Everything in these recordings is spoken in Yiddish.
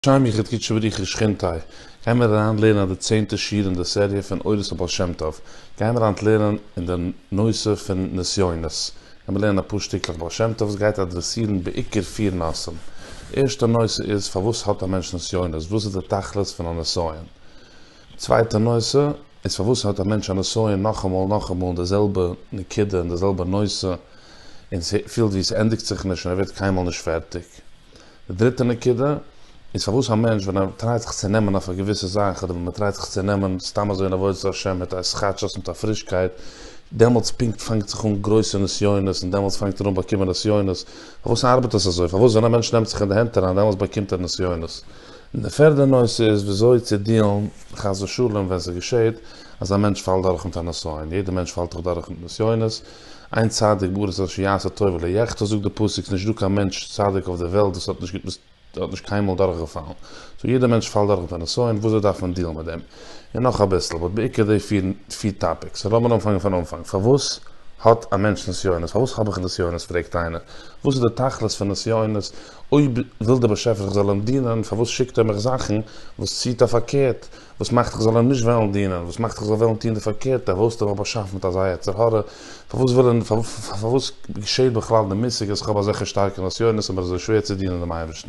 שם יחיד קודשא בריך הוא שכינתי', גיימיר אריין לערנען די צענטע שיעור אין די סעריע פון אורות הבעל שם טוב, גיימיר היינט לערנען אין די נושא פון נסיונות, גיימיר לערנען אפאר שטיקלעך בעל שם טוב, עס גייט אדרעסירן בעיקר פיר נושאים, ערשטע נושא איז פארוואס האט א מענטש נסיונות, וואס איז די תכלית פון א נסיון. צווייטע נושא, איז פארוואס האט א מענטש א נסיון נאכאמאל נאכאמאל אין די זעלבע נקודה אין די זעלבע נושא און ס'פילט ווי ס'ענדיגט זיך נישט און ער ווערט קיינמאל נישט פערטיג. די דריטע נקודה, איז פארוואס א מענטש ווען ער טרייט זיך צו נעמען אויף א געוויסע זאך אדער ווען מ'טרייט זיך צו נעמען סתם אזוי אין עבודת השם מיט א שחצ'ות מיט א פרישקייט, דעמאלטס פונקט פאנגט זיך אן גרויסע נסיונות און דעמאלטס פאנגט ער אן באקומען נסיונות. פארוואס ארבעט עס אזוי? פארוואס ווען א מענטש נעמט זיך אין די הענט אריין דעמאלטס באקומט ער נסיונות? און די פערדע נושא איז וויאזוי צו דיעלן חס ושלום ווען ס'געשעהט אז א מענטש פאלט דורך מיט א נסיון, יעדע מענטש פאלט דאך דורך מיט נסיונות, איין צדיק בארץ אשר יעשה טוב ולא יחטא זאגט די פסוק ס'נישט דא קיין מענטש צדיק אויף די וועלט וואס האט נישט וואס האט נישט קיינמאל דורך געפאלן, סאו יעדע מענטש פאלט דורך מיט א נסיון, וויאזוי דארף מען דיעלן מיט דעם? און נאך אביסל, באט בעיקר די פיר פיר טאפיקס, סאו לאמיר אנפאנגען פון אנפאנג, פארוואס האט א מענטש נסיונות? פארוואס האב איך נסיונות פרעגט איינער? וואס איז די תכלית פון נסיונות? אויב וויל דער באשעפער איך זאל אים דינען, פארוואס שיקט ער מיך זאכן וואס ציעט אויף פארקערט, וואס מאכט איך זאל אים נישט וועלן דינען, וואס מאכט איך זאל וועלן טון די פארקערטע, פארוואס האט ער מיך באשאפן מיט אזא יצר הרע, פארוואס וויל ער, פארוואס געשעהט בכלל די מושג אז איך האב אזעלכע שטארקע נסיונות און בין אזוי שווער צו דינען דעם אייבערשטן.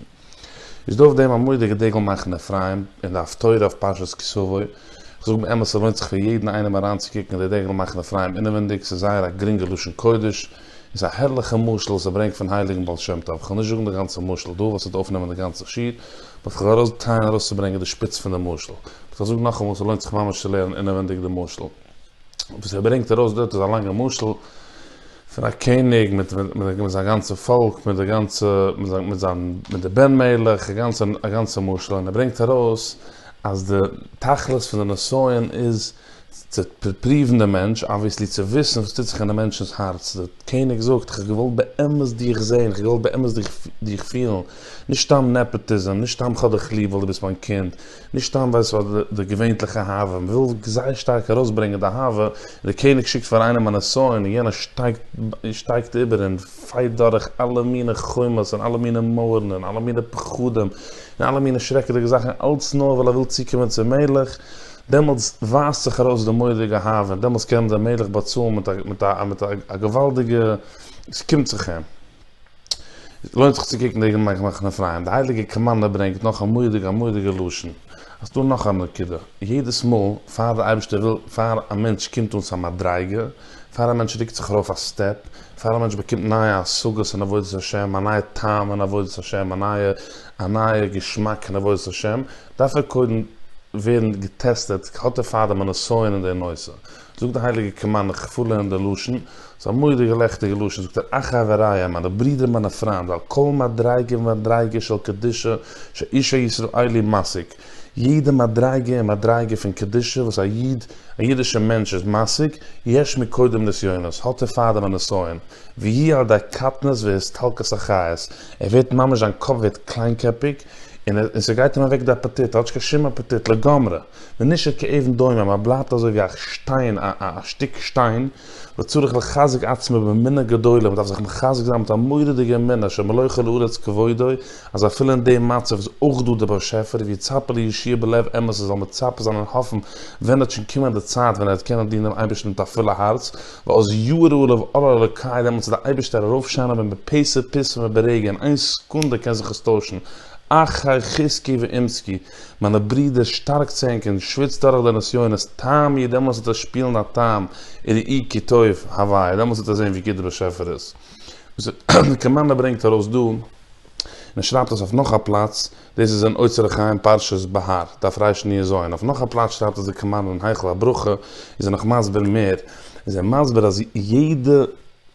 איז דא אויף דעם א מודי'גע דגל מחנה אפרים אין די הפטורה אויף פרשת כי סבוי, איך זאג באמת ס'לוינט זיך פאר יעדן איינעם אריינצוקוקן אין די דגל מחנה אפרים אינעווינדיג, ס'איז זייער א גרינגע לשון קודש, איז א הערליכע משל וואס ער ברענגט פון הייליגן בעל שם טוב, כ'וועל נישט זאגן די גאנצע משל דא, ווייל ס'וועט אויפנעמען די גאנצע שיעור, באט כ'וועל ארויס טרייען ארויסצוברענגען די שפיץ פון די משל. באט כ'זאג נאכאמאל, ס'לוינט זיך ממש צו לערנען אינעווענדיג די משל. וואס ער ברענגט ארויס דארט איז א לאנגע משל פון א קעניג מיט זיין גאנצע פאלק, מיט די גאנצע, מיט זיין, מיט די בן מלך, א גאנצע, א גאנצע משל, און ער ברענגט ארויס אז די תכלית פון די נסיון איז, צו פריוון דעם מענטש, אבוויעסלי צו וויסן וואס טוט זיך אינעם מענטשנ'ס הארץ, דער קעניג זאגט, איך האב געוואלט באמת דיך זען, איך האב געוואלט באמת דיך פילן, נישט סתם נעפאטיזם, נישט סתם כ'האב דיך ליב ווייל דו ביסט מיין קינד, נישט סתם ווייל ס'איז אט די געווענליכע אהבה, מ'וויל זייער שטארק ארויסברענגען די אהבה, און דער קעניג שיקט פאר איינעם א נסיון, און יענער שטייגט איבער און פייט דורך אלע מינע חומות, און אלע מינע מויערן, און אלע מינע פחדים, און אלע מינע שרעקעדיגע זאכן, אלץ נאר ווייל ער וויל צוקומען צום מלך. דעמאלטס ווייזט זיך ארויס די מורא'דיגע אהבה און דעמאלטס קען דער מלך באצאלן מיט א מיט א מיט א געוואלדיגע ס'קומט זיך אים לוינט זיך צו קוקן די מחנה פרייען די הייליגע קאמאנדע ברענגט נאך א מורא'דיגע א מורא'דיגע לשון אז דא נאך א נקודה יעדעס מאל פאר די אייבערשטער וויל פאר א מענטש קומט אן צו א מדריגה פאר א מענטש רוקט זיך ארויף א סטעפ פאר א מענטש באקומט נייע השגות אין עבודת השם א נייע טעם אין עבודת השם א נייע א נייע געשמאק נבואות השם, דארף ער קודם ווערן געטעסטעט, האט ער פארדעם א נסיון אין די נושא? זאגט די הייליגע קמא, און איך פארלערן די לשון, ס'איז א מורא'דיגע לעכטיגע לשון, זאגט ער, אך חבריא, מיינע ברידער מיינע פריינד, ועל כל מדריגה ומדריגה של קדושה שאיש הישראלי משיג, יעדע מדריגה און מדריגה פון קדושה וואס א איד, א אידישער מענטש איז משיג, יש מקודם נסיונות, האט ער פארדעם א נסיון, והיא על ידי קטנות והסתלקות החיות, ער ווערט ממש זיין קאפ ווערט קליינקעפיג, און און ס'גייט אים אוועק די אפעטיט, ער האט נישט קיין שום אפעטיט לגמרי, ונשאר כאבן דומם, ער בלייבט אזוי ווי א שטיין, א א שטיק שטיין, וצריך לחזק עצמו באמונה גדולה, מען דארף זיך מחזק זיין מיט א מורא'דיגע אמונה שמלא כל הארץ כבודו, אז אפילו אין די מצב איז אויך דא דער באשעפער, ויצפה לישועה בלב אמת עס זאל מצפה זיין און האפן ווען וועט שוין קומען די צייט ווען ער וועט קענען דינען דעם אייבערשטן מיט א פולע הארץ, ואז יאיר אור לב אור אלוקי דעמאלטס וועט דער אייבערשטער ארויפשיינען ווען בפה ספסופה ברגע אין איין סעקונדע קען זיך עס טוישן, אחי חזקי ואמצקי, מיינע ברידער, שטארק צו ענקערן, שוויצט דורך די נסיונות, טעם איר, דעמאלס וועט עס שפילן א טעם און ראי' כי טוב הווי, דעמאלס וועט איר זען ווי גוט דער באשעפער איז. וואס דער קאמאנדער ברענגט ארויס דא, און ער שרייבט עס אויף נאך א פלאץ, דאס איז אין אוצר החיים פרשת בהר, דף רש ני ז, און אויף נאך א פלאץ שרייבט עס דער קאמאנדער אין היכל הברכה, איז ער נאך מסביר מער, איז ער מסביר אז יעדע.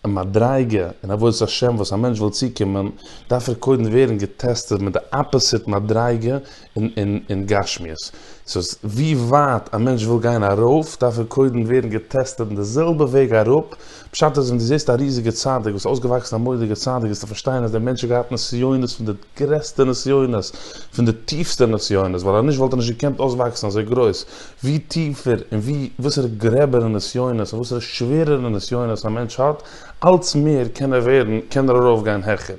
א מדריגה אין עבודת השם וואס א מענטש וויל צוקומען דארף ער קודם ווערן געטעסטעד מיט די אפעסיט מדריגה אין גשמיות, סאו ווי ווייט א מענטש וויל גיין ארויף דארף ער קודם ווערן געטעסטעד אין די זעלבע וועג אראפ, פשט איז ווען דו זעסט א ריזיגע צדיק וואס איז אויסגעוואקסן א מורא'דיגע צדיק וועסטו פארשטיין אז דער מענטש האט געהאט נסיונות פון די. גרעסטע נסיונות, פון די טיפסטע נסיונות, ווייל אז נישט וואלט ער נישט געקענט אויסוואקסן אזוי גרויס, ווי טיפער און ווי וואסערע גרעבערע נסיונות און וואסערע שווערערע נסיונות א מענטש האט, אלץ מער קען ער ווערן, קען ער ארויפגיין העכער.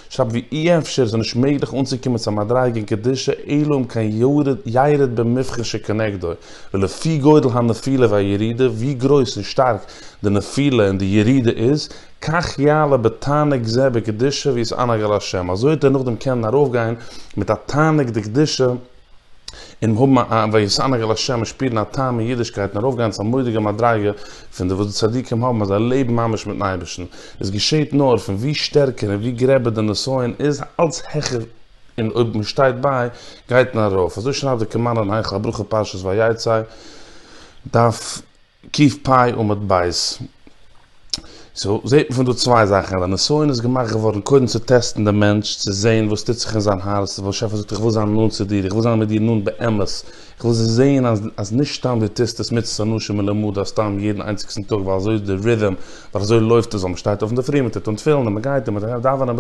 שרייבט ווי אי אפשר עס איז נישט מעגליך אנצוקומען צו א מדריגה אין קדושה אלא אם כן ירד במבחן שכנגדו, ולפי גודל הנפילה והירידה, ווי גרויס און שטארק די נפילה און די ירידה איז, כך יעלה בתענוג זה בקדושה ווי עס אנהג על השם, אזוי האט ער נאכדעם קענען ארויפגיין מיט א תענוג דקדושה און האבן א ווי עס אנהג על השם און שפירן א טעם אין אידישקייט און ארויפגיין צו א מודיגע מדריגה פון די וואס די צדיקים האבן אז זיי לעבן ממש מיטן אייבערשטן, עס געשעהט נאר פון ווי שטערקער און ווי גרעבער די נסיון איז אלץ העכער און אויב מען שטייט ביי גייט מען ארויף, אזוי שרייבט דער קעמאנער אין היכל הברכה פרשת ויצא דף ק פ עמוד ב'. סאו זעהט מען פון דא צוויי זאכן, אז די נסיון איז געמאכט געווארן קודם צו טעסטן די מענטש, צו זעהן וואס טוט זיך אין זיין הארץ, וואס השי ת זאגט איך וויל זיין נאנט צו דיר, איך וויל זיין מיט דיר נאנט באמת, איך וויל זעהן אז נישט סתם דו טוסט עס מצות אנשים מלומדה סתם יעדן איינציגסטן טאג ווייל אזוי איז די רידעם, ווייל אזוי לויפט עס, ווייל מען שטייט אויף אינדערפרי, מען טוט אן תפילין, מען גייט און מען דאווענען,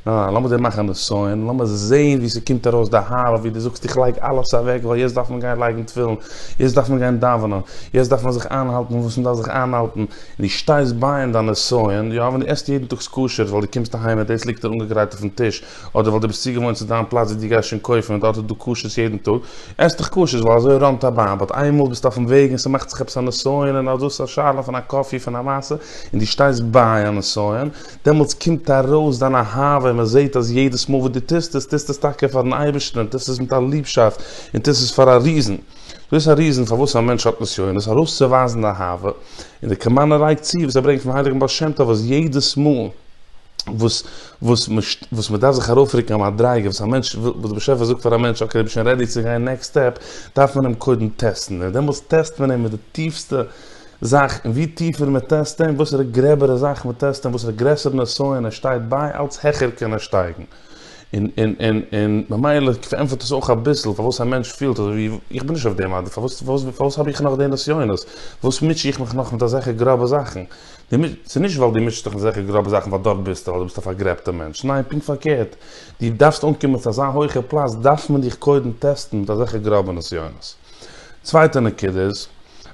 אה, לאמיר זיי מאכן נסיון, לאמיר זעהן ווי ס'קומט ארויס די הארא ווי דו זאגסט איך לייג אלעס אוועק ווייל יעצט דארף מען גיין לייגן תפילין, יעצט דארף מען גיין דאווענען, יעצט דארף מען זיך איינהאלטן וואס מ'דארף זיך איינהאלטן, און דו שטייסט ביי אין דיין נסיון, יא אוון דו עסט יעדן טאג סקושערס ווייל דו קומסט אהיים און דאס ליגט דיר אנגעגרייט אויפן טיש, אדער ווייל דו ביסט צוגעוואוינט צו דיין פלאץ ווי דו גייסט שוין קויפן און דארט איז דא כשר'ס יעדן טאג, עס דיך כשר'ס ווייל אזוי ראנט א באן, באט איינמאל ביסטו אויפן וועג און ס'מאכט זיך עפעס א נסיון און אז דאס איז א שאלה פון א קאפי פון א מעשה און דו שטייסט ביי א נסיון, דעמאלטס קומט ארויס דיין אהבה און מען זעט אז יעדעס מאל וואס דו טוסט עס, טוסטו עס טאקע פאר'ן אייבערשטן און טוסט עס מיט א ליבשאפט און טוסט עס פאר א ריזן. דאס איז א ריזן פארוואס א מענטש האט נסיונות, ארויסצוווייזן די אהבה, און די קאמאנע לייגט צו וואס ער ברענגט פון הייליגן בעל שם טוב אז יעדעס מאל וואס וואס מען דארף זיך ארויפרוקן א מדריגה, וואס א מענטש וואס דער באשעפער זאגט פאר א מענטש אקעי דו ביסט שוין רעדי צו גיין נעקסט סטעפ, דארף מען אים קודם טעסטן, און דעמאלטס טעסט מען אים מיט די טיפסטע זאך, און ווי טיפער מען טעסט אים, וואסערע גרעבערע זאכן מען טעסט אים, וואסערע גרעסערע נושאים ער שטייט ביי, אלץ העכער קען ער שטייגן. און, און, און, און ממילא פארענטפערט עס אויך אביסל פארוואס א מענטש פילט אזוי ווי, איך בין נישט אויף דעם אדער פארוואס, פארוואס, פארוואס האב איך נאך די נסיונות? פארוואס מוטש איך מיך נאך מיט אזעלכע גראבע זאכן? דו מוט, ס'איז נישט ווייל דו מוטשסט דיך מיט אזעלכע גראבע זאכן ווייל דארט ביסטו, ווייל דו ביסט א פארגרעבטער מענטש. ניין, פונקט פארקערט. דו דארפסט אנקומען צו אזא הויכע פלאץ, דארף מען דיך קודם טעסטן מיט אזעלכע גראבע נסיונות. צווייטע נקודה איז,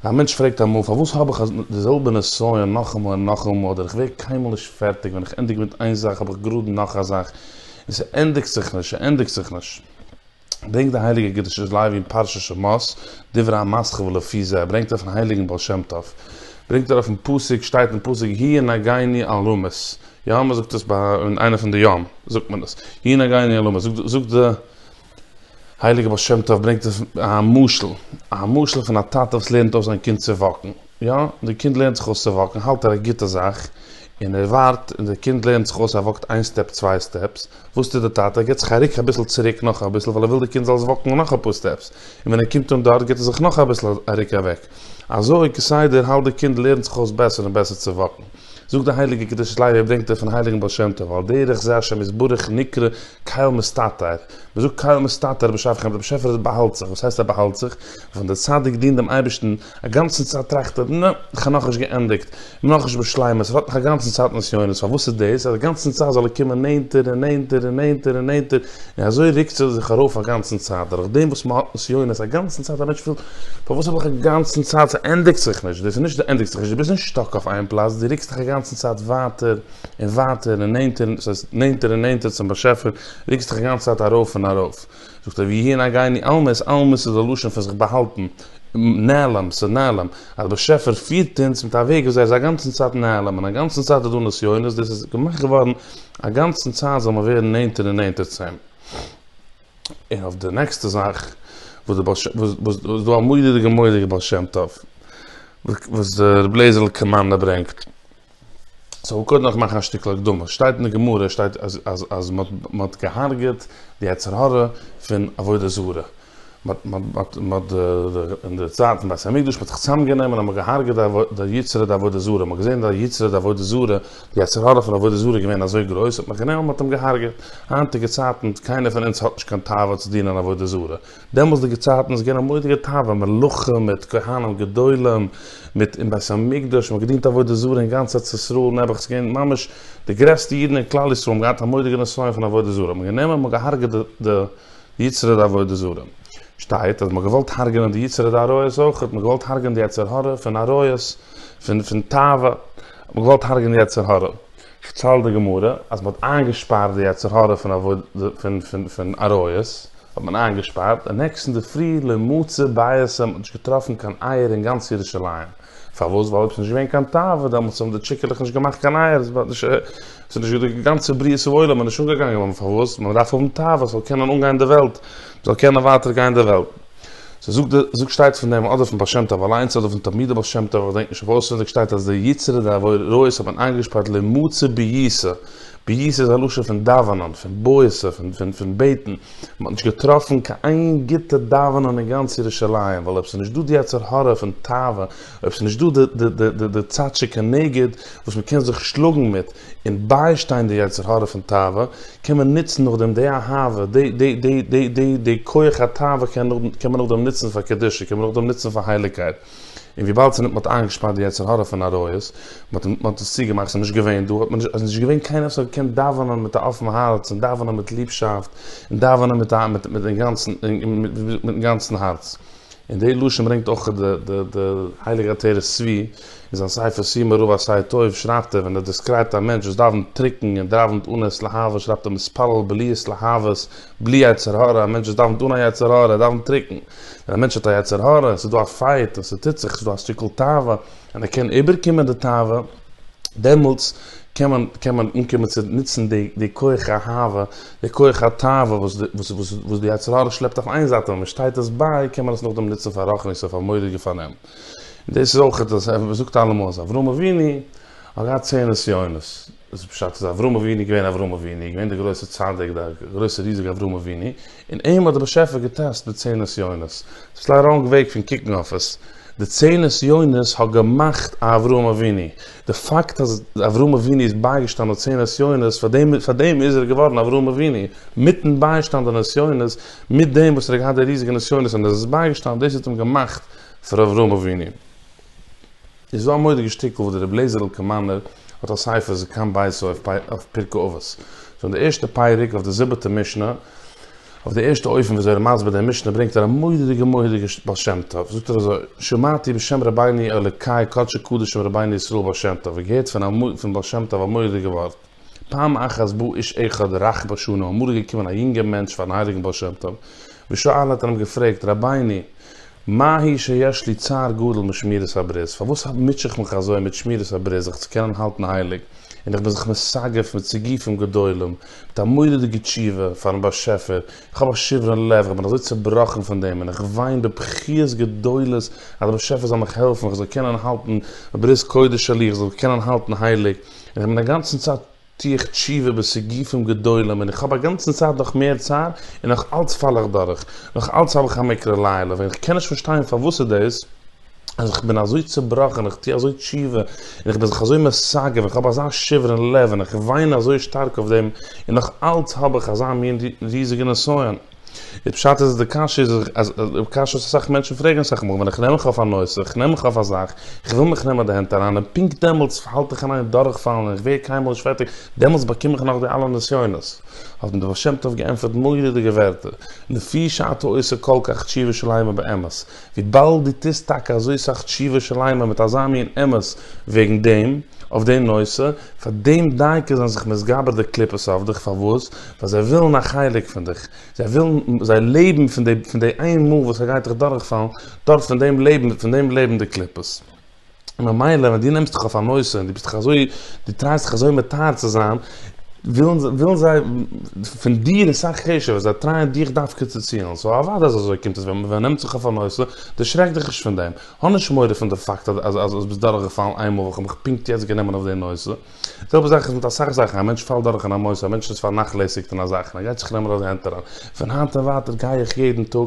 א מענטש פרעגט אמאל פארוואס האב איך די זעלבע נסיון נאכאמאל און נאכאמאל אדער איך ווער קיינמאל נישט פערטיג ווען איך ענדיג מיט איין זאך האב איך גראד נאך א זאך און ס'ענדיגט זיך נישט ס'ענדיגט זיך נישט. ברענגט די הייליגע קדושת לוי אין פרשת שמות דברי המסכת ולפי זה ברענגט ער פון הייליגן בעל שם טוב ברענגט ער אויפן פסוק שטייט אין פסוק הי' נגעני על רמות יהא מ'זאגט עס ביי אין איינע פון די ימ זאגט מען עס הי' נגעני על רמות זאגט די הייליגער בעל שם טוב ברענגט אויף א משל, א משל פון א טאטע וואס לערנט אויס זיין קינד צו וואקן, יא, דער קינד לערנט זיך אויס צו וואקן, האלט ער א גוטע זאך, און ער ווארט, און דער קינד לערנט זיך אויס, ער וואקט איין סטעפ, צוויי סטעפס, וואס טוט דער טאטע? ער גיבט זיך א רוק אביסל צוריק נאך אביסל, ווייל ער וויל דער קינד זאל זיך וואקן נאך אפאר סטעפס, און ווען ער קומט אן דארט גיבט ער זיך נאך אביסל א רוק אוועק, אזוי כסדר האלט דער קינד לערנט זיך אויס בעסער און בעסער צו וואקן. זאגט די הייליגע קדושת לוי א ברענגט ער פון הייליגן בעל שם טוב על דרך זה השם יתברך נקרא קהל מסתתר, מען זאגט קהל מסתתר בשעת כעין דער באשעפער עס באהאלט זיך, וואס הייסט ער באהאלט זיך? ווען דער צדיק דינט דעם אייבערשטן א גאנצן צייט טראכט ער נע, איך האב נאכנישט געענדיגט, איך בין נאכנישט בשלימות, איך ווארט נאך א גאנצן צייט נסיונות, פארוואס איז דאס? אז א גאנצן צייט זאל ער קומען נענטער און נענטער און נענטער און נענטער, און אזוי רוקט זי זיך ארויף א גאנצן צייט, דורך דעם וואס מען האט נסיונות א גאנצן צייט, א מענטש פילט, פארוואס האב איך א גאנצן צייט, ס'ענדיגט זיך נישט, דאס איז נישט די ענדיגט זיך נישט, דו ביסט נישט סטאק אויף איין פלאץ, דו רוקסט דיך א גאנצן צייט ווייטער און ווייטער און נענטער, דאס הייסט נענטער און נענטער צום באשעפער, רוקסט דיך א גאנצע צייט ארויף און ארויף. זאגט ער, והיא אינה גייני עלמית, עלמית איז א לשון פון זיך באהאלטן, נעלם, ס'איז נעלם, אז דער באשעפער פירט אונז מיט א וועג וויאזוי ער איז א גאנצן צייט נעלם און א גאנצן צייט איז דא נסיונות, דאס איז געמאכט געווארן א גאנצן צייט זאל מען ווערן נענטער און נענטער צו אים. און אויף די נעקסטע זאך וואס די בעל ש ו וואס איז דא א מורא'דיגע מורא'דיגע בעל שם טוב וואס די רבי לעזער'ל קאמארנא ברענגט. סאו כ'וועל קודם נאך מאכן א שטיקל הקדמה. שטייט אין די גמרא שטייט אז אז אז מ'האט מ'האט געהארגעט די יצר הרע פון עבודה זרה. אין די צייט פון בית המקדש האט מען זיך צוזאם גענומען און האט מען געהארגעט די יצרי די עבודה זרה, מען האט געזען די יצרי די עבודה זרה, די יצר הרע פון עבודה זרה איז געווען אזוי גרויס האט מען גענומען און מען האט אים געהארגעט, היינטיגע צייטן קיינער פון אונז האט נישט קיין תאווה צו דינען עבודה זרה, דעמאלסדיגע צייטן איז געווען א מורא'דיגע תאווה, מלכים מיט כהנים גדולים, מיט אין בית המקדש, מען האט געדינט עבודה זרה אין גאנץ ארץ ישראל, נעבעך ס'איז געווען ממש די גרעסטע אידן אין כלל ישראל האבן געהאט א מורא'דיגע נסיון פון עבודה זרה, האט מען גענומען און מען האט געהארגעט די יצר הרע ועבודה זרה. שטייט אז מ'האט געוואלט הרג'נען די יצר הרע עריות אויך, מ'האט געוואלט הרג'נען די יצר הרע פון עריות, פון פון תאווה, האט מען געוואלט הרג'נען די יצר הרע. שטעלט די גמרא אז מ'האט איינגעשפארט די יצר הרע פון פון פון עריות, האט מען איינגעשפארט, און נעקסטן די פרי לע מצא בית האט מען נישט געטראפן קיין אייער אין גאנץ ירושלים. פארוואס? ווייל אויב ס'איז נישט געווען קיין תאווה, דעמאלטס האבן די טשיקעלעך נישט געמאכט קיין אייער, עס וואלט נישט, עס איז נישט די גאנצע בריאת העולם איז נישט אנגעגאנגען, אבער פארוואס? מען דארף האבן תאווה, עס זאל קענען אנגיין די וועלט, מען זאל קענען ווייטער גיין די וועלט. ס'איז זאגט די זאגט שטייט פון דעם, אדער פון בעל שם טוב אליינס, אדער פון תלמידי בעל שם טוב, איך געדענק נישט אויף אויסעווינדיג, שטייט אז די יצרי דעבורא האט מען איינגעשפארט למצוא בעיסה, פיוס איז א לשון פון דאווענען, פון בועשה, פון בעטן, מען האט נישט געטראפן קיין איין גוטע דאווענען אין גאנץ ירושלים, ווייל אויב ס'איז נישט דא די יצר הרע פון תאווה, אויב ס'איז נישט דא די צד שכנגד וואס מען קען זיך שלאגן מיט און ביישטיין די יצר הרע פון תאווה, קען מען נוצן נאכדעם די אהבה, די כח התאווה קען מען נאכדעם נוצן פאר קדושה, קען מען נאכדעם נוצן פאר הייליגקייט. און וויבאלד ס'ניט מ'האט איינגעשפארט די יצר הרע פון עריות, מ'האט מ'האט עס צוגעמאכט, ס'איז נישט געווען דא, האט מען נישט, אז נישט געווען קיינער וואס האט געקענט דאווענען מיט א אפן הארץ און דאווענען מיט ליבשאפט און דאווענען מיט א מיט מיט אינגאנצן מיטן גאנצן הארץ. און די לשון ברענגט אויך די די די הייליגע עטרת צבי אין זיין ספר סימן רב א סיי טוב שרייבט ער ווען ער דעסקרייבט א מענטש וואס דאווענט טרוקן און דאווענט אן עת להבה שרייבט ער מתפלל בלי עת להבות בלי יצר הרע, א מענטש וואס דאווענט אן א יצר הרע, דאווענט טרוקן. ווען א מענטש האט א יצר הרע, עס איז דא א פייט און עס טוט זיך, עס איז דא א שטיקל תאווה, און ער קען איבערקומען די תאווה, דעמאלטס קען מען, קען מען אנקומען צו נוצן די, די כח האהבה, די כח התאווה וואס די, וואס, וואס, וואס די יצר הרע שלעפט אויף איין זייט, און ווען מען שטייט עס ביי, קען מען עס נאכדעם נוצן פאר רחנית אויף א מורא'דיגע פארנעם. דאס איז אויך, מען זאגט אלעמאל אז אברהם אבינו האט געהאט צען נסיונות. וואס פשט איז אברהם אבינו געווען אברהם אבינו געווען די גרויסע צדיק די גרויסע ריזיגע אברהם אבינו און אים האט די באשעפער געטעסט די צען נסיונות ס'איז אביסל א ראנג וועג פון קוקן אויף עס די צען נסיונות האט געמאכט א אברהם אבינו די פאקט אז אברהם אבינו איז בייגעשטאנען צען נסיונות פאר דעם פאר דעם איז ער געווארן אברהם אבינו מיטן ביישטאנד די נסיונות מיט דעם וואס ער האט געהאט די ריזיגע נסיונות און ער איז בייגעשטאנען דאס האט אים געמאכט פאר אברהם אבינו. איז דא א מודיגע שטיקל וואס דער רבי לעזער'ל קאמאנער האט א ספר זקן ביתו אויף פרקי אבות, פון די ערשטע פרק אויף די זיבעטע משנה, אויף די ערשטע אופן וויאזוי ער מסביר די משנה ברענגט ער א מודיגע מודיגע בעל שם טוב, זאגט ער אזוי, שמעתי בשם רבינו אלוקי קדשי קדשים רבינו ישראל בעל שם טוב, איך געהערט פון בעל שם טוב א מודיגע ווארט, פעם אחת בא איש אחד רך בשנה, אמאל איז געקומען א יונגער מענטש פארן הייליגן בעל שם טוב, ושאל האט ער אים געפרעגט, רבינו, מה היא שיש לי צער גדול משמירת הברית, פארוואס מוטשע איך מיך אזוי מיט שמירת הברית זיך צו קענען האלטן הייליג, און איך בין זיך מסגף מיט סעיפים גדולים, מיט א מורא'דיגע תשובה פארן באשעפער, איך האב א שברון לב, איך בין אזוי צעבראכן פון דעם, און איך וויין בבכיות גדולות אז דער באשעפער זאל מיך העלפן איך זאל קענען האלטן ברית קודש שלי, איך זאל זיך קענען האלטן הייליג. איך בין אגאנצן צייט טוה איך תשובה בסעיפים גדולים און איך האב אגאנצן צייט נאך מער צער און נאך אלץ פאל איך דורך, נאך אלץ האב איך א מקרה לילה ווען איך קען נישט פארשטיין פארוואס איז דאס אז איך בין אזוי צובראכן און איך טוה אזוי תשובה און איך בין זיך אזוי מסגף און איך האב אזא שבר אין לב און איך וויין אזוי שטארק אויף דעם און נאך אלץ האב איך אזא מין ריזיגע נסיון. די פשט איז אז די קשיא איז אז די קשיא וואס אסאך מענטשן פרעגן אסאך מאל ווען איך נעם מיך אויף א נושא איך נעם מיך אויף א זאך איך וויל מיך נעמען די הענט אריין און פונקט דעמאלטס האלט איך אין איין דורכפאלן און איך ווער קיינמאל נישט פערטיג דעמאלטס באקום איך נאך די אלע נסיונות האט אים די בעל שם טוב געענטפערט מורא'דיגע ווערטער לפי שאת העושה כל כך תשובה שלימה באמת וויבאלד דו טוסט טאקע אזוי סאך תשובה שלימה מיט אזא מין אמת וועגן דעם, אויף דעם נושא, פאר דעם דייקא זענען זיך מתגבר די קליפות אויף דיך, פארוואס? ווייל זיי ווילן א חלק פון דיך, זיי ווילן, זיי לעבן פון די, פון די איין מאל וואס ער גייט דיך דורכפאלן, דורך פון דעם לעבן, פון דעם לעבן די קליפות. ממילא ווען דו נעמסט דיך אויף א נושא און דו ביסט דיך אזוי, דו טרייסט דיך אזוי מתאר צו זיין, ווילן זיי פון דיר אסאך חשוב'ער, זיי טרייען דיך דווקא צו צילן, סאו אוודאי אז אזוי קומט עס ווען מען נעמט זיך אויף א נושא, דערשרעק דיך נישט פון דעם, האב נישט מורא פון די פאקט אז דו ביסט דורכגעפאלן איינמאל ווען כ'האב מיך פונקט יעצט גענומען אויף די נושא. די זעלבע זאך איז מיט אסאך זאכן, א מענטש פאלט דורך אין א מוסר, א מענטש איז פארנאכלעסיגט אין א זאך און ער גייט זיך נעמען אזוי הענט אריין, פון היינט און ווייטער גיי איך יעדן טאג,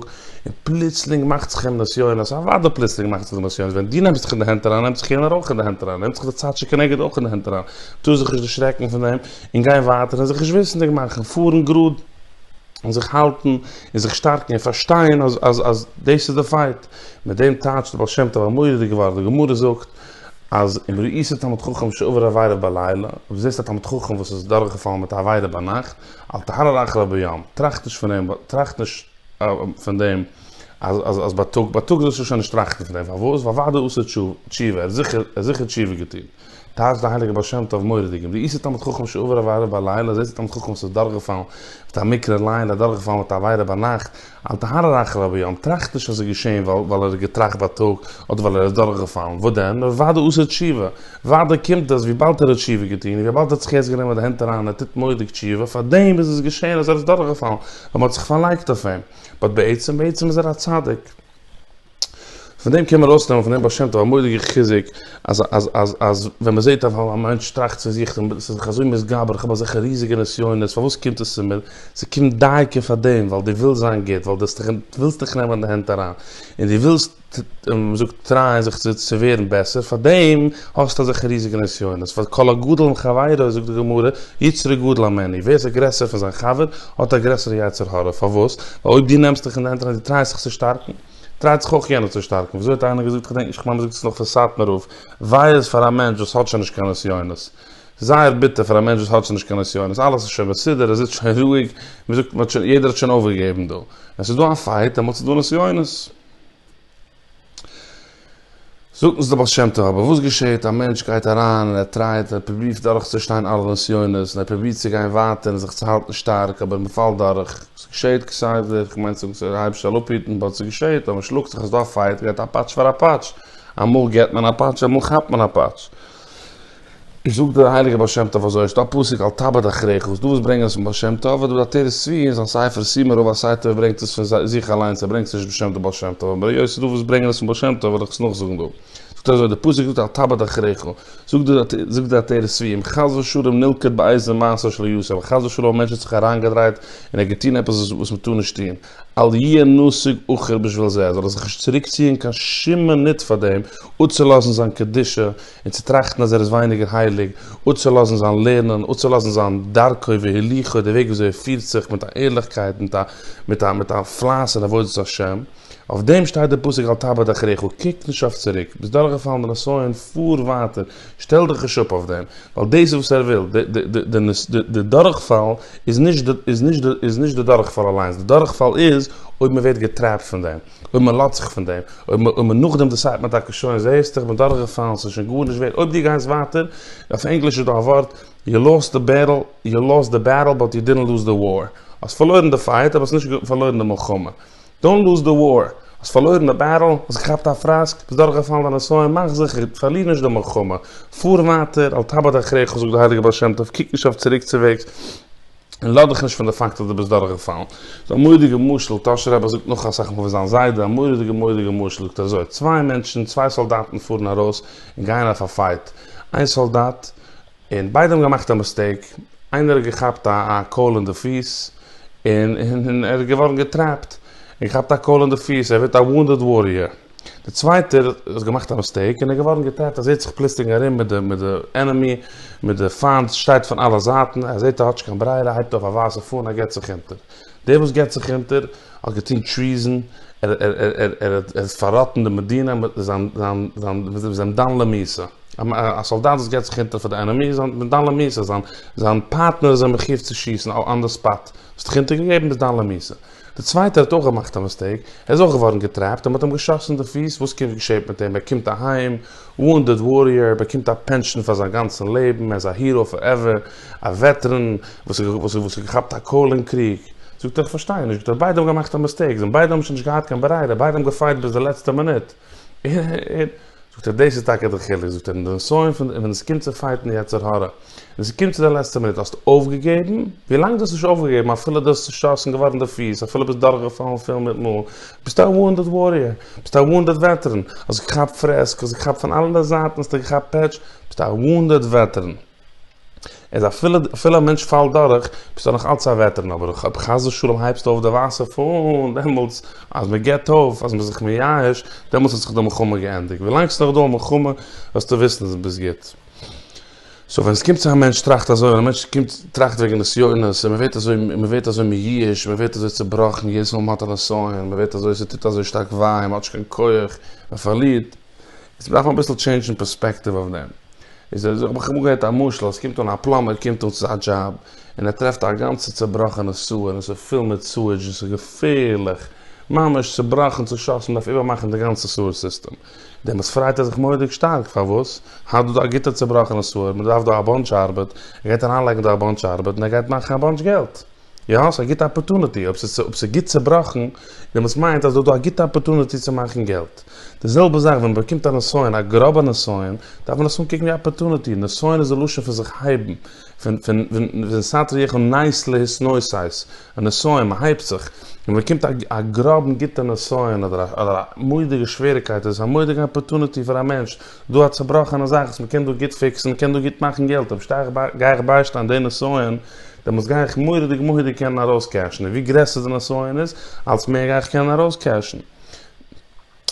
און פלוצלינג מאכט זיך אים נסיונות, אוודאי פלוצלינג מאכט זיך די נסיונות, ווען דו נעמסט זיך אין די הענט אריין נעמט זיך יענער אויך אין די הענט אריין, נעמט זיך די צד שכנגד אויך אין די הענט אריין, טאר זיך נישט דערשרעקן פון דעם, און גיין ווייטער און זיך נישט וויסנדיג מאכן, פארן גראד און זיך האלטן און זיך שטארקן און פארשטיין אז דאס איז די פייט, מיט דעם טייטשט דער בעל שם טוב א מורא'דיגע ווארט, די גמרא זאגט. אז אם ראית תלמיד חכם שעבר עבירה בלילה, אויב זעסט א תלמיד חכם וואס איז דורכגעפאלן מיט א עבירה ביינאכט, אל תהרהר אחריו ביום, טראכט נישט פון דעם, טראכט נישט פון דעם אז בייטאג, בייטאג זאלסטו שוין נישט טראכטן פון דעם, פארוואס? ווייל אוודאי עשה תשובה, ער האט זיכער, ער האט זיכער תשובה געטון. טייטש די הייליגע בעל שם טוב מורה דגים, ראית תלמיד חכם שעבר עבירה בלילה, זעסט א תלמיד חכם וואס איז דורכגעפאלן מיט א מיקרא ליין, ער איז דורכגעפאלן מיט א עבירה ביינאכט, אל תהרע רעך רבי יום, טראכט נישט אז ס'איז געשען ווייל ער האט געטראכט בייטאג, אדער ווייל ער איז דורכגעפאלן, וואס דען, נאר וואדע עשה תשובה, וואדע קומט עס וויבאלד ער האט תשובה געטון, און וויבאלד ער האט זיך יעצט גענומען מיט די הענט אריין און ער טוט מורא'דיג תשובה, פארדעם איז עס געשען אז ער איז דורכגעפאלן, ווייל מ'האט זיך פארלייגט אויף אים, באט בעצם בעצם איז ער א צדיק. פון דעם קען מען ארויס נעמען פון דעם בעל שם טוב א מורא'דיגע חיזוק אז אז אז אז ווען מען זעט א מענטש טראכט צו זיך און איז זיך אזוי מתגבר איך האב אזעלכע ריזיגע נסיונות פארוואס קומט עס צו מיר? ס'קומט דייקא פאר דעם ווייל דו ווילסט זיין גוט ווייל דו ווילסט דיך נעמען אין די הענט אריין און דו ווילסט ווי מען זאגט טרייען זיך צו צו ווערן בעסער פאר דעם האסטו אזעלכע ריזיגע נסיונות ווייל כל הגדול מחבירו זאגט די גמרא יצרו גדול המני ווער איז גרעסער פון זיין חבר האט א גרעסערע יצר הרע, פארוואס? ווייל אויב דו נעמסט דיך אין די הענט און די טרייסט זיך צו שטארקן, טרייט זיך אויך יענער צו שטארקן, וויאזוי האט איינער געזאגט, כ'דענק נישט, כ'מיין מ'זאגט עס נאך פון סאטמאר רב, וויי איז פאר א מענטש וואס האט שוין נישט קיין נסיונות, זייער ביטער פאר א מענטש וואס האט שוין נישט קיין נסיונות, אלעס איז שוין מסודר, ער זיצט שוין רואיג, ווי מ'זאגט, מ'האט שוין, יעדער האט שוין אויפגעגעבן דא, ווען ס'איז דא א פייט, דעמאלטס איז דא נסיונות. זאגט אונז דער בעל שם טוב, אבער וואס געשעהט? א מענטש גייט אריין און ער טרייט, ער פרובירט דורכצושטיין אלע נסיונות, און ער פרובירט צו גיין ווייטער און זיך צו האלטן שטארק, אבער מען פאלט דורך. עס געשעהט כסדר, כ'מיין צו זאגן ס'איז היבש א אפהיטן, באט עס געשעהט, אז מען שלאגט זיך אז דא א פייט, גייט א פאטש פאר א פאטש, אמאל געט מען א פאטש, אמאל כאפט מען א פאטש. זאגט דער הייליגער בעל שם טוב אזוי, עס איז דא א פסוק אל תאבד אחריך, וואס דא וואס ברענגען עס פון בעל שם טוב, אדער די עטרת צבי אין זיין ספר סימן רב א סיי טוב ברענגט עס פון זיך אליינס ער ברענגט עס נישט בשם דער בעל שם טוב, אבער היות עס איז דא וואס ברענגען עס פון בעל שם טוב וועל איך עס נאכזאגן דא, זאגט אזוי, די פסוק זאגט אל תאבד אחריך, זאגט די עטרת צבי, אם חס ושלום נלכד באיזה מעשה שלא יעשה, אויב חס ושלום א מענטש האט זיך אריינגעדרייט און ער האט געטון עפעס וואס מען טאר נישט טון, אל יהיה נסיג אחור בשביל זה, זאל ער זיך נישט צוריקציען קיין שום מינוט פאר דעם, אפצולאזן זיין קדושה. און צו טראכטן אז ער איז ווייניגער הייליג, אפצולאזן זיין לערנען, אפצולאזן זיין דרכו והליכו, די וועג וויאזוי ער פירט זיך מיט א ערליכקייט, מיט א מיט א מיט א פלייס אין עבודת השם, אויף דעם שטייט די פסוק אל תאבד אחריך, קוק נישט אויף צוריק, ביסט דורכגעפאלן די נסיון, פאר ווייטער, שטעל דיך נישט אפ אויף דעם, ווייל דאס איז וואס ער וויל, די דורכפאל איז נישט די דורכפאל אליינס, די דורכפאל איז אויב מען ווערט געטרעפט פון דעם. אויב מען לאזט זיך פון דעם, אויב מען נאכדעם דיסיידט מען טאקע שוין, זעהסטו איך בין דורכגעפאלן, ס'איז שוין גארנישט ווערד, אויב דו גייסט ווייטער, אויף ענגליש איז דא א ווארט, יו לאסט די בעטל, יו לאסט די בעטל באט יו דידנט לוז די וואר, האסט פארלוירן די פייט אבער האסט נישט פארלוירן די מלחמה, דאנט לוז די וואר, האסט פארלוירן די בעטל, האסט געכאפט א פראסק, ביסט דורכגעפאלן דיין נסיון, מאך זיכער, פארליר נישט די מלחמה, פאר ווייטער, אל תאבד אחריך, זאגט דער הייליגער בעל שם טוב, קוק נישט אויף צוריקצוועגס, און לאז דיך נישט פון די פאקט אז דו ביסט דורכגעפאלן. ס'איז א מורא'דיגע משל, טאהש'ער רבי זאגט נאך אסאך מאל פון זיין זיידע, א מורא'דיגע מורא'דיגע משל, זאגט ער אזוי, צוויי מענטשן, צוויי סאלדאטן פארן ארויס און גייען אויף א פייט, איין סאלדאט, און ביידע האבן געמאכט א מיסטעיק, איינער האט געכאפט א א קויל אין די פיס, און ער איז געווארן געטרעפט, און געכאפט א קויל אין די פיס, ער ווערט א וואונדעד וואריער. די צווייטער האט געמאכט א מיסטעיק און איז געווארן געטענה'ט אז ער האט זיך פלוסלינג ארום מיט די מיט די ענעמי מיט די פיינט שטייט פון אלע זייטן ער זעהט ער האטש קיין ברירה הייבט אויף א ווייסע פאן ער גיבט זיך אונטער דער וואס גיבט זיך אונטער האט געטון טריזען ער ער ער ער ער האט פארראטן די מדינה מיט זיין זיין זיין זיין זיין דן למאיסה א סאלדאט וואס גיבט זיך אונטער פאר די ענעמי איז א דן למאיסה זיין זיין פארטנער איז אים מחויב צו שיסן אן די ספאט האסט דיך אונטערגעגעבן ביסט דן למאיסה. די צווייטער האט אויך געמאכט א מיסטעיק, ער איז אויך געווארן געטרעפט און מען האט אים געשאסן אין די פיס, וואס קומט געשעהט מיט אים, ער קומט אהיים, וואונדעד וואריאר, ער באקומט א פענטשן פאר זיין גאנצן לעבן, ער איז א היראו פארעווער, א וועטעראן וואס האט געכאפט א קאל אין קריג. זאגט ער איך פארשטיי נישט, זאגט ער ביידע האבן געמאכט א מיסטעיק, זיי ביידע האבן שוין נישט געהאט קיין ברירה, ביידע האבן געפייט ביז די לעצטע מינוט, און, זאָגט ער, דאָס איז טאַקע דער חילוק, זאָגט ער, אין די נסיון פֿון, און ווען עס קומט צו פֿייטן יצר הרע, און ס'קומט צו דער לעצטער מינוט, האָסטו אויפֿגעגעבן? ווי לאַנג דו האָסט נישט אויפֿגעגעבן, אַפֿילו דו האָסט צעשאָסן געוואָרן די פֿיס, אַפֿילו ביסט דורכגעפֿאַלן פֿיל מיט מאָל, ביסטו אַ וואונדעד וואָריער, ביסטו אַ וואונדעד וועטעראַן, האָסט געכאַפּט פֿרעסק, האָסט געכאַפּט פֿון אַלע זײַטן, האָסטו געכאַפּט פּעטש, ביסטו אַ וואונדעד וועטעראַן. איז אפילו אפילו א מענטש פאלט דורך ביסטו נאך אלץ א וועטעראן אבער אויב אויב חס ושלום הייבסטו אויף די ווייסע פאן דעמאלטס אז מען געבט אויף אז מען איז זיך מייאש דעמאלטס האט זיך די מלחמה געענדיגט ווילאנג ס'איז נאך דא א מלחמה וועסטו וויסן אז ביסט גוט סאו ווען ס'קומט צו א מענטש טראכט אזוי ווען א מענטש קומט טראכט וועגן נסיונות און מען ווערט אזוי מען ווערט אזוי מייאש מען ווערט אזוי צובראכן יעדעס מאל מען האט א נסיון מען ווערט אזוי ס'טוט אזוי שטארק וויי מען האט נישט קיין כח מען פארלירט איז מ'דארף אביסל טשעינדשן פערספעקטיוו אויף דעם. איז ער האב איך אמאל געהערט א משל אז ס'קומט אן א פלאמבער קומט אן צו זיין דזשאב און ער טרעפט א גאנצע צובראכענע סוער און ס'איז פול מיט סועדזש און ס'איז געפערליך ממש צובראכן צושאסן מ'דארף איבערמאכן די גאנצע סוער סיסטעם. דעמאלטס פריידט ער זיך מורא'דיג שטארק פארוואס? האט דא דא א גוטע צובראכענע סוער, מ'דארף דא א באנטש ארבעט, ער גייט אריינלייגן דא א באנטש ארבעט און ער גייט מאכן א באנטש געלט. יא, ס'איז א גוטע אפערטוניטי, אויב ס'איז אויב ס'איז גוט צובראכן, דעמאלטס מיינט אז דא איז דא א גוטע אפערטוניטי צו מאכן געלט. די זעלבע זאך ווען מ'באקומט א נסיון, א גראבע נסיון, דארף מען עס אנקוקן ווי א אפערטוניטי, נסיון איז די לשון פון זיך הייבן, פון פון פון פון סטרא יחא נס להתנוסס, א נסיון, מ'הייבט זיך, און ווען מ'באקומט א א גראבן גוטע נסיון אדער א אדער א מודיגע שוועריקייט איז עס א מודיגע אפערטוניטי פאר א מענטש דא א צובראכענע זאך וואס מ'קען דא גוט פיקסן, מ'קען דא גוט מאכן געלט, אויב שטיי איך ביי, גיי איך ביישטיין די נסיון, דעמאלטס גיי איך מורא'דיג מוהדיג קענען ארויסקעשן, און ווי גרעסער די נסיון איז, אלץ מער גיי איך קענען ארויסקעשן.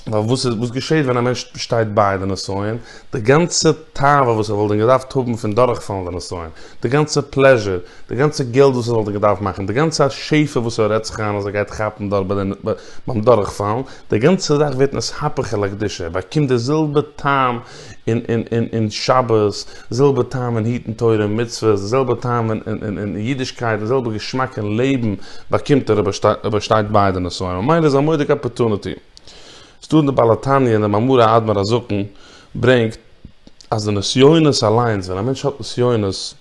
ווייל וואס איז, וואס געשעהט ווען א מענטש שטייט ביי די נסיון? די גאנצע תאווה וואס ער וואלט ווען געדארפט האבן פון דורכפאלן די נסיון, די גאנצע פלעזשור, די גאנצע געלט וואס ער וואלט געדארפט מאכן, די גאנצע שפע וואס ער רעדט זיך איין אז ער גייט כאפן דארט ביי די, ביים דורכפאלן, די גאנצע זאך ווערט נסהפך אל הקדושה, באקומט די זעלבע טעם אין שבת, זעלבע טעם אין היטן תורה און מצוות, די זעלבע טעם אין אידישקייט, די זעלבע געשמאק אין לעבן באקומט ער אויב ער פארשטייט ביידע נושאים, ממילא איז א מודיק אפערטונעטי. ס'איז דא אין די בעל התניא און די מאמרי האדמור הזקן ברענגט אז די נסיונות אליינס, ווען א מענטש האט נסיונות,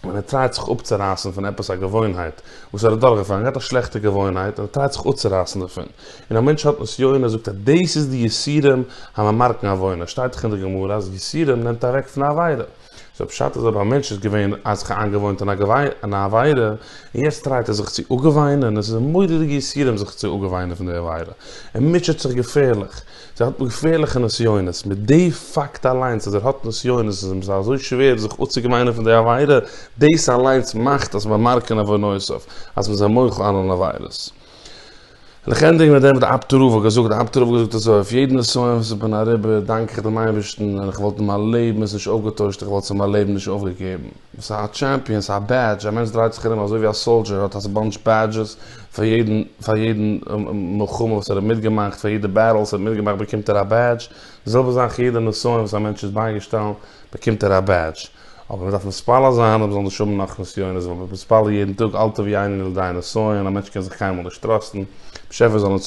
ווען ער טרייט זיך אפצורייסן פון עפעס א געוואוינהייט וואס ער האט דורכגעפאלן, ער געהאט א שלעכטע געוואוינהייט און ער טרייט זיך אפצורייסן דערפון, און א מענטש האט נסיון, ער זאגט אז דאס איז די יסורים הממרקן עוונה, שטייט דאך אין די גמרא אז יסורים נעמט אוועק פון א עבירה, סאו פשט אז אויב א מענטש איז געווען א זיך איינגעוואוינט אין א עבירה און יעצט טרייט ער זיך צו אפגעוויינען, עס איז אים מורא'דיגע יסורים זיך צו אפגעוויינען פון די עבירה, ער מוטשעט זיך געפערליך, זיי האט געפערליכע נסיונות, מיט די פאקט אליינס אז ער האט נסיונות איז אים עס אזוי שווער זיך אפצוגעוויינען פון די עבירה, דאס אליינס מאכט אז מען מארקט אין עוונותיו אז מען איז א מוחל על אן עבירות. און איך ענדיג מיט דעם, די אבד רב האט געזאגט, די אבד רב האט געזאגט אזוי, אויף יעדן נסיון וואס איך בין אריבער דאנק איך דעם אייבערשטן, און איך וואלט אין מיין לעבן עס נישט אויפגעטוישט, איך וואלט עס אין מיין לעבן נישט אויפגעגעבן. עס איז א טשעמפיאן, עס איז א בעדזש, א מענטש דרייט זיך ארום אזוי ווי א סאלדזשער, ער האט א באנטש בעדזשעס, פאר יעדן, פאר יעדן מלחמה וואס ער האט מיטגעמאכט, פאר יעדע בעטל וואס ער האט מיטגעמאכט באקומט ער א בעדזש, די זעלבע זאך יעדע נסיון וואס א מענטש איז בייגעשטאנען באקומט ער א בעדזש, אבער מען דארף מתפלל זיין אז מען זאל נישט האבן נאך נסיונות, ווייל מען איז מתפלל יעדן טאג אל תביא עינינו לידי נסיון, א מענטש קען זיך קיינמאל נישט טראסטן, באשעפער זאל אונז